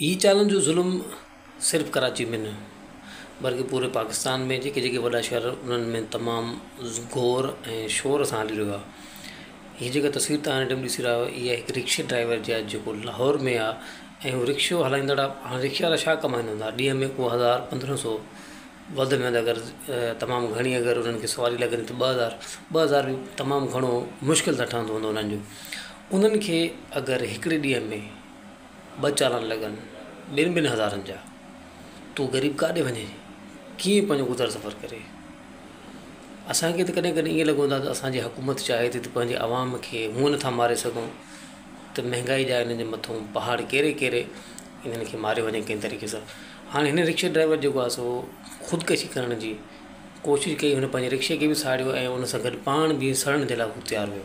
هي چالن جو ظلم صرف ڪراچي ۾ نه بلڪه پوري پاڪستان ۾ جيڪي جيڪي وڏا شهر انهن ۾ تمام گور ۽ شور سان هلي رهيو آهي هي جيڪا تصوير تهان هن ٽيم ڏسي رهيا آهيو اهي هڪ رڪشي ڊرائيور جي آهي جيڪو لاهور ۾ آهي ۽ هو رڪشو هلائيندڙ آهي هاڻ رڪشي وارا ڇا ڪمائيندا هوندا ڏينهن ۾ ڪو هزار پندرهن سو وڌ ۾ وڌ اگر تمام گهڻي اگر انهن کي سواري لڳندي ته ٻه هزار ٻه هزار تمام گهڻو مشڪل سان ٺهندو هوندو انهن جو انهن کي اگر هڪڙي ڏينهن ۾ ٻه چالان لڳن ٻن ٻن هزارن جا. تون غريب ڪاڏي وڃين ڪيئن پنهنجو گذر سفر ڪري. اسان کي ته ڪڏهن ڪڏهن ائين لڳندو آهي ته اسان جي حڪومت چاهي ٿي ته پنهنجي عوام کي هونئن نٿا ماري سگهون ته مهنگائي جا هنن جي مٿون پهاڙ ڪيري ڪيري هنن کي ماريو وڃي ڪنهن طريقي سان. هاڻي هن رڪشي ڊرائيور جيڪو آهي سو خودڪشي ڪرڻ جي ڪوشش ڪئي هن پنهنجي رڪشي کي به ساڙيو ۽ ان سان گڏ پاڻ به سڙڻ جي لاء هو تيار هيو.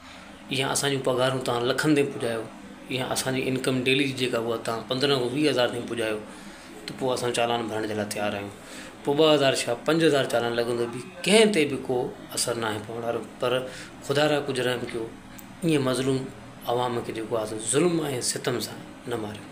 يا اسان جون پگهارون توهان لکن تائين پڄايو يا اسان جي انڪم ڊيلي جي جيڪا هئا توهان پندرهن کان ويهه هزار تائين پڄايو ته پوء اسان چالان ڀرڻ جي لاء تيار آهيون پوء ٻه هزار ڇا پنج هزار چالان لڳندو به ڪنهن تي به ڪو اثر ناهي پوڻ وارو پر خدا را ڪجهه رحم ڪيو ائين مظلوم عوام کي جيڪو آهي سو ظلم ۽ ستم سان نه ماريو